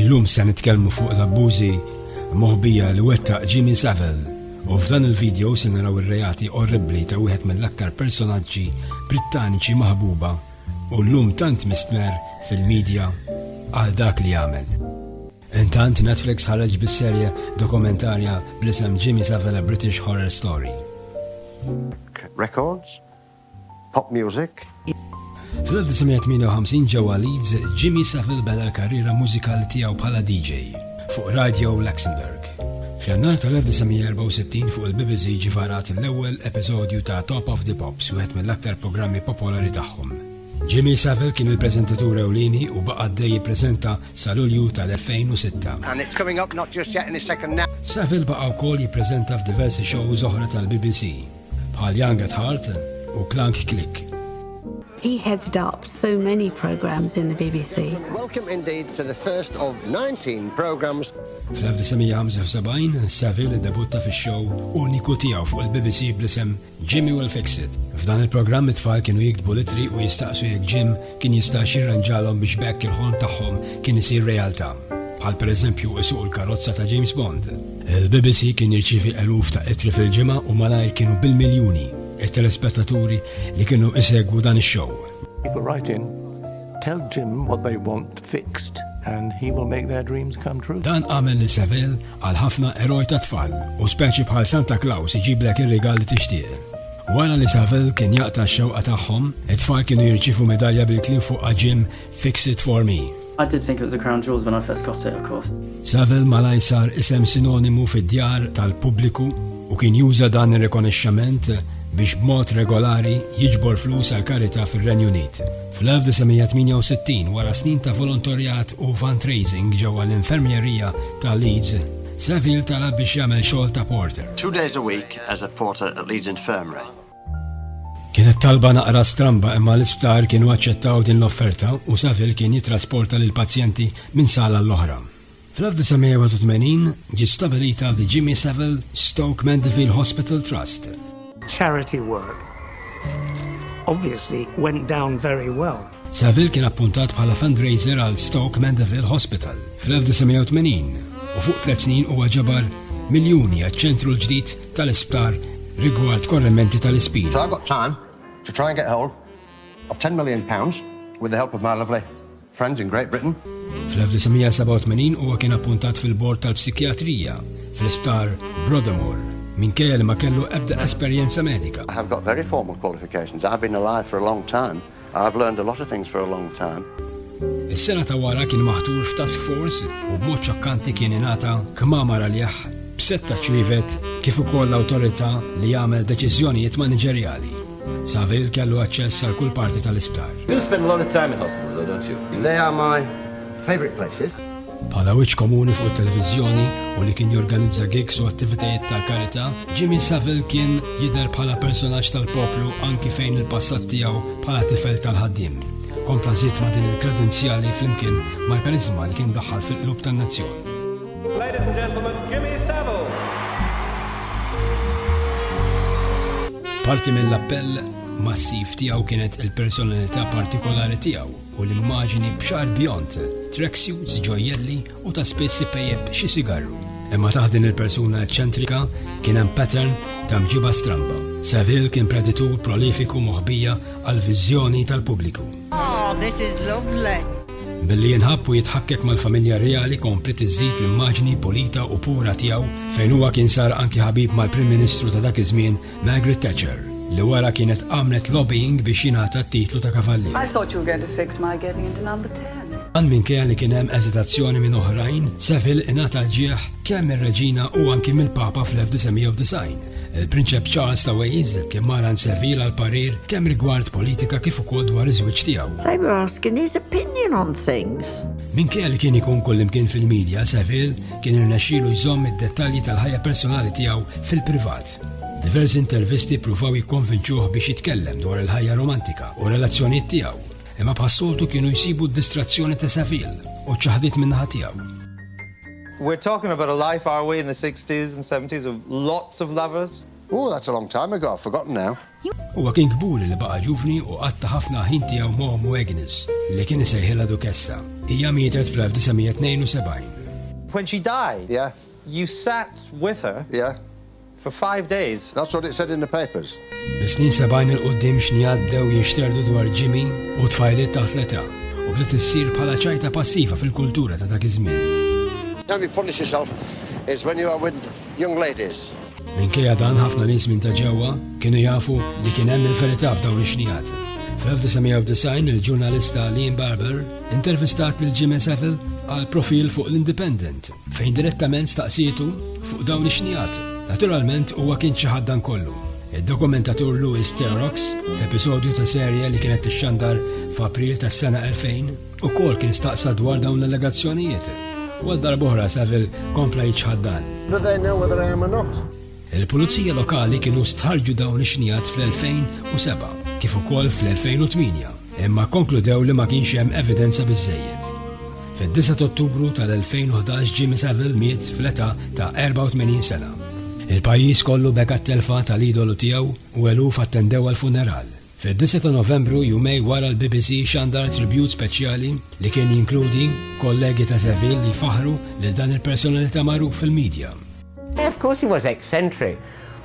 Illum se nitkellmu fuq l-abbużi moħbija li wettaq Jimmy Savile u f'dan il-video se naraw ir-reati orribbli ta' wieħed mill-aktar personaġġi Brittaniċi maħbuba u llum tant mistmerr fil-media għal dak li għamel. Intant Netflix ħareġ bis-serje dokumentarja bl-isem Jimmy Savile A British Horror Story. Records, Pop Music. Fl-1958 ġewwa Leeds, Jimmy Savile beda l-karriera mużikali tiegħu bħala DJ fuq Radio Luxembourg. F'Jannar tal-1964 fuq il-BBC ġie varat l-ewwel episodju ta' Top of the Pops, wieħed mill-aktar programmi popolari tagħhom. Jimmy Savile kien il-preżentatur ewlieni u baqa' għaddej jippreżenta sa Lulju tal-2006. Savile baqa' wkoll jippreżenta f'diversi shows oħra tal-BBC. bħal Young at Heart u Clank Click. He headed up so many programs in the BBC. Welcome indeed to the first of 19 programs. Fl-1975, Saville debutta fi show uniku tiegħu fuq il-BBC bl-isem Jimmy Will Fix It. F'dan il-programm it-tfal kienu jiktbu litri u jistaqsu jekk Jim Kien jista' x'jirranġalhom biex b'hekk il-ħolm tagħhom kien isir realtà, bħal pereżempju isuqu l-karozza ta' James Bond. Il-BBC kien jirċievi eluf ta' ittri fil-ġimgħa u malajr kienu bil-miljuni t-telespettaturi li kienu jsegwu dan ix-show. People write in, Tell Jim what they want fixed and he will make their dreams come true. Dan għamel lil Saville Għal ħafna, eroj tat-tfal u speċi bħal Santa Claus iġiblek ir-rigal li tixtieq. Wara li Saville kien jaqta' x-xewqa tagħhom, it-tfal kienu jirċievu medalja bil-kliem fuqha Jim, fix it for me. I did think it was the crown jewels when I first got it, of course. Saville malajr sar isem sinonimu fid-djar tal-pubbliku u kien juża dan ir-rikonixxament biex b'mod regolari jiġbor flus għall-karità fir-Renju Unit. Fl-1968, wara snin ta' volontorjat u fundraising ġewwa l-infermierija ta' Leeds, Saville talab biex jagħmel xogħol ta' porter. Two days a week as a porter at Leeds Infirmary. Kienet talba naqra stramba imma l-isptar kienu aċċettaw din l-offerta u Saville kien jittrasporta lill-pazjenti minn sala għall-oħra. Fl-1981 ġiet stabilita The Jimmy Savile Stoke Mandeville Hospital Trust. Charity work obviously went down very well. Saville kien appuntat bħala fundraiser għal Stoke Mandeville Hospital fl-1980 u fuq tliet snin huwa ġabar miljuni għaċ-ċentru l-ġdid tal-isptar rigward korrementi tal-ispin. So I've got time to try and get hold of 10 million pounds with the help of my lovely Friends in Great Britain. Fl-1987 huwa kien appuntat fil-bord tal-psikjatrija fl-Isptar Broadmoor minkejja li ma kellu ebda esperjenza medika. I have got very formal qualifications. I've been alive for a long time. I've learned a lot of things for a long time. Is-sena ta' wara kien maħtur f'task force u b'mod ċokkanti kien ingħata kmamar għalih b'setta ċwivet kif ukoll l-awtorità li jagħmel deċiżjonijiet maniġerjali. Saville kellu aċċess għal kull parti tal-isptar. You spend a lot of time in hospitals, though, don't you? They are my favorite places. Bħala wiċċ komuni fuq it-televiżjoni u li kien jorganizza gigs u attivitajiet ta' karità, Jimmy Saville kien jidher bħala personaġġ tal-poplu anki fejn il-passat tiegħu bħala tifel tal-ħaddiem. Kompla żied ma' din il-kredenzjali flimkien mal-karizma li kien daħħal fil-qlub tan-nazzjon. Ladies and gentlemen, Jimmy Savile. Parti mill-appell massiv tiegħu kienet il-personalità partikolari tiegħu u l-immaġini b'xar bjont, tracksuits, ġojjelli u ta' spiss ipejjeb xi sigarru. Imma taħt din il-persuna eċċentrika kien hemm pattern ta' mġiba stramba. Saville kien preditur prolifiku moħbija għal viżjoni tal-pubbliku. Oh, this is lovely. Billi jinħabb u jitħakkek mal-familja reali kompli tiżid l-immaġni pulita u pura tiegħu fejn huwa kien sar anki ħabib mal-Prim Ministru ta' dak iż-żmien Margaret Thatcher li wara kienet għamlet lobbying biex jingħata t-titlu ta' kavallier. I thought you were going to fix my getting into number 10. Għan minn kien li kien hemm eżitazzjoni minn oħrajn, Seville ingħata l-ġieħ Kemm mir-Reġina u anki mill-Papa fl-1990, il-Prinċep Charles ta' Wales kien mara nsevil għal parir kemm rigward politika kif ukoll dwar iż-żwieġ tiegħu. They were asking his opinion on things. Minkejja li kien ikun kullimkien fil-medja, Seville kien irnexxielu jżomm id-dettalji tal-ħajja personali tiegħu fil-privat. Diversi intervisti pruvaw jikkonvinċuh biex jitkellem dwar il-ħajja romantika u relazzjonijiet tiegħu, imma bħas-soltu kienu jsibu d-distrazzjoni ta' Seville u ċaħdit min-naħa tiegħu. We're talking about a life are we in the sixties and seventies of lots of lovers? Ooh that's a long time ago, I've forgotten now. Huwa kien kburi li baqa' ġuvni u qatta' ħafna ħin tiegħu ma' ommu Agnes, li kien isejħilha Dukessa. Hija mietet fl-1972. When she died? Yeah. You sat with her? Yeah. For five days. That's what it said in the papers. Mis-snin sebgħin 'il quddiem xnia bdew jinxterdu dwar Jimmy u tfajliet taħt l-età u bdiet issir bħala ċajta passiva fil-kultura ta' dak iż-żmien. How you punish yourself is when you are with young ladies. Minkejja dan ħafna nies minn ta' ġewwa kienu jafu li kien hemm il-verità f'dawn ix-xnijat. Fl-1990 il-ġurnalista Liam Barber intervistat lil Jimmy Savile għal profil fuq l-Independent. Fejn direttament staqsietu fuq dawn ix-xnigħat. Naturalment huwa kien xi ħaddan kollu. Id-dokumentatur Louis Therox, f'episodju ta' serje li kienet tixxandar f'April tas-sena 2000, ukoll kien staqsa dwar dawn l-allegazzjonijiet. U għal darb'oħra Saville kompla jiċħad dan. Il-Pulizija Lokali kienu stħarrġu dawn ix-xnigħat fl-2007 kif ukoll fl-2008 imma kkonkludew li ma kienx hemm evidenza biżżejjed. Fid-9 t'Ottubru tal-2011 Jimmy Saville miet fl-età ta' 84 sena. Il-pajjiż kollu beka t-telfa tal-idolu tiegħu u eluf attendew għall-funeral. Fid-disgħa ta' Novembru, jumej wara l-BBC xandar tribute speċjali li kien jinkludi kollegi ta' Zevin li jfaħħru lil dan il-personalità magħruf fil-media. Of course he was eccentric,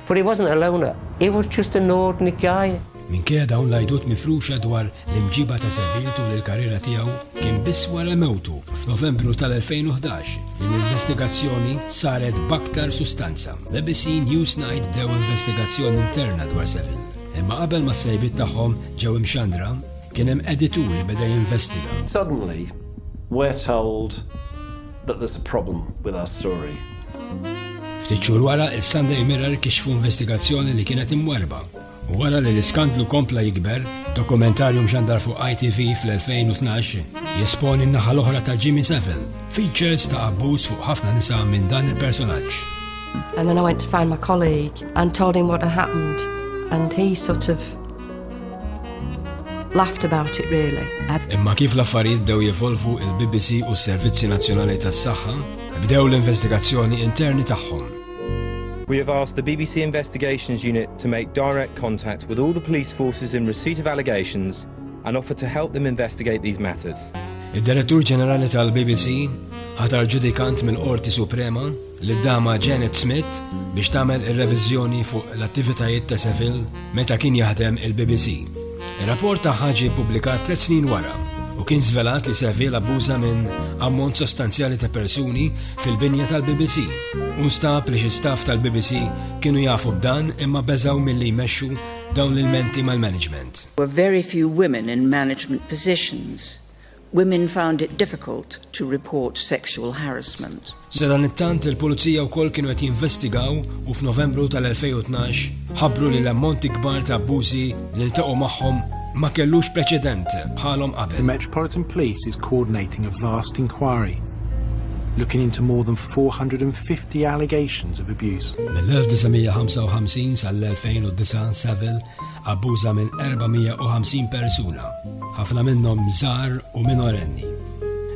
but he wasn't a loner, he was just an ordinary guy. Minkejja dawn l-għidut mifruxa dwar l-imġiba ta' Zevin tul il-karriera tiegħu, kien biss wara mewtu f'Novembru tal-2011 li l-investigazzjoni saret b'aktar sustanza. BBC Newsnight bdew investigazzjoni interna dwar Zevin. Imma qabel ma s-sejbiet tagħhom ġew imxandra, kien hemm editur li beda jinvestiga. Suddenly, we're told that there's a problem with our story. Ftit xhur wara, is-Sunday Mirror kixfu investigazzjoni li kienet imwarrba U wara li l-iskandlu kompla jikber, dokumentarju mxandar fuq ITV fl-2012 jesponi n-naħa l-oħra ta' Jimmy Savile, features ta' abbuż fuq ħafna nisa minn dan il-personaġġ. And then I went to find my colleague and told him what had happened and he sort of laughed about it really. Imma kif l-affarijiet bdew jevolvu il-BBC u s-Servizzi Nazzjonali tas-Saħħa bdew l-investigazzjoni interni tagħhom. We have asked the BBC Investigations Unit to make direct contact with all the police forces in receipt of allegations and offer to help them investigate these matters. Id-Direttur Ġenerali tal-BBC ħatar ġudikant mill-Qorti Suprema lid-Dama Janet Smith biex tagħmel ir-reviżjoni fuq l-attivitajiet ta' Seville meta kien jaħdem il-BBC. Ir-rapport tagħha ġie ppubblikat tliet snin wara u kien żvelat li Seville abbuża minn ammont sostanzjali ta' persuni fil-binja tal-BBC u nstab li xi staff tal-BBC kienu jafu b'dan imma beżgħu milli jmexxu dawn l-ilmenti mal-management. There were very few women in management positions Women found it difficult to report sexual harassment. Sadanittant, il-Pulizija wkoll kienu qed jinvestigaw u f'Novembru tal-2012 ħabbru li l-ammonti kbar ta' abbużi li ltaqgħu magħhom ma kellux preċedent bħalhom qabel. The Metropolitan Police is coordinating a vast inquiry looking into more than 450 allegations of abuse. Mill-1955 sal-2009 Saville abbuża minn 450 persuna, ħafna minnhom żgħar u minorenni.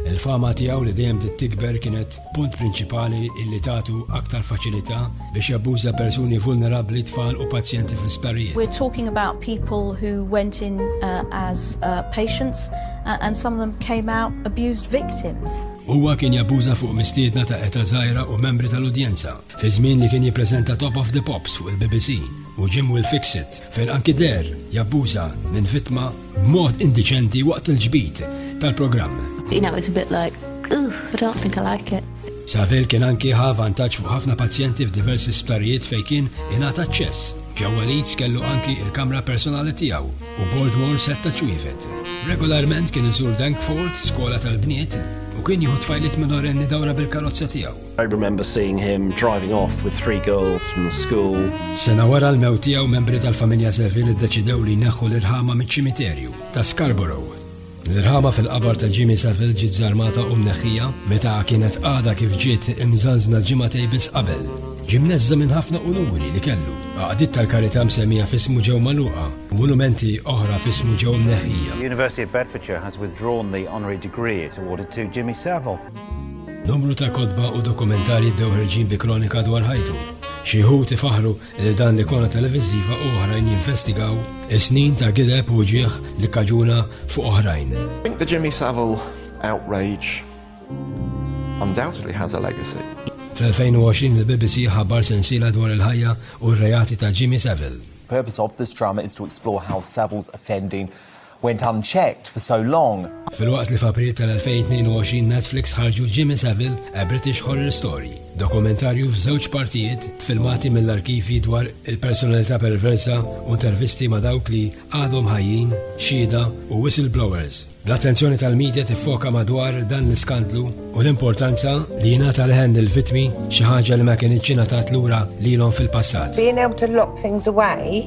Il-fama tiegħu li dejjem bdiet tikber kienet punt prinċipali illi tagħtu aktar faċilità biex jabbuża persuni vulnerabbli, tfal u pazjenti fl-isptarijiet. We're talking about people who went in uh, as uh, patients uh, and some of them came out abused victims. Huwa kien jabbuża fuq mistiedna ta' eta żgħira u membri tal-udjenza. Fi żmien li kien jippreżenta Top of the Pops fuq il-BBC u Jim Will Fix It fejn anki deher jabbuża minn vittma b'mod indiċenti waqt il-ġbid tal-programm. You know, it's a bit like, Ugh, I don't think I like it. Saville kien anki ħa vantaġġ fuq ħafna pazjenti f'diversi sptarijiet fejn kien ingħata aċċess. Ġewwa Leeds kellu anki il-kamra personali tiegħu u Boardmore setta ċwievet. Regolarment kien iżur Dankford, skola tal-bniet, u kien jieħu tfajliet minorenni dawra bil-karozza tiegħu. I remember seeing him driving off with three girls from the school. Sena wara l-mewt tiegħu membri tal-familja Seville iddeċidew li jneħħu l-irħama miċ-ċimiterju ta' Scarborough. L-irħama fil-qabar ta' Jimmy Seville ġiet żarmata u mneħħija meta kienet għada kif ġiet imżanżna ġimgħatej biss qabel. Ġimneżża minn ħafna unuri li kellu. Għaqdiet tal-karità msemmija fismu ġew maluqa, monumenti oħra fismu ġew mneħħija. University of Bedfordshire has withdrawn the honorary degree it awarded to Jimmy Savile. Numru ta' kotba u dokumentarji bdew ħerġin bi kronika dwar ħajtu. Xi wħud ifaħħru lil dan l-ikona televiżiva u oħrajn jinvestigaw is-snin ta' gideb u uġigħ li kkaġuna fuq oħrajn. Think the Jimmy Savile outrage undoubtedly has a legacy. Fl-2020 il-BBC ħabar sensiela dwar il-ħajja u r-reati ta' Jimmy Savile. Purpose of this drama is to explore how Savile's offending went unchecked for so long. Filwaqt li f'April tal-2022 Netflix ħarġu Jimmy Savile, A British Horror Story, dokumentarju f'żewġ partijiet b'filmati mill-arkivji dwar il-personalità perversa u intervisti ma' dawk li għadhom ħajjin, xhieda u whistleblowers, l-attenzjoni tal-media tiffoka madwar dan l-iskandlu u l-importanza li jingħata leħen lill-vittmi, xi ħaġa li ma kinitx ingħatat lura lilhom fil-passat. Being able to lock things away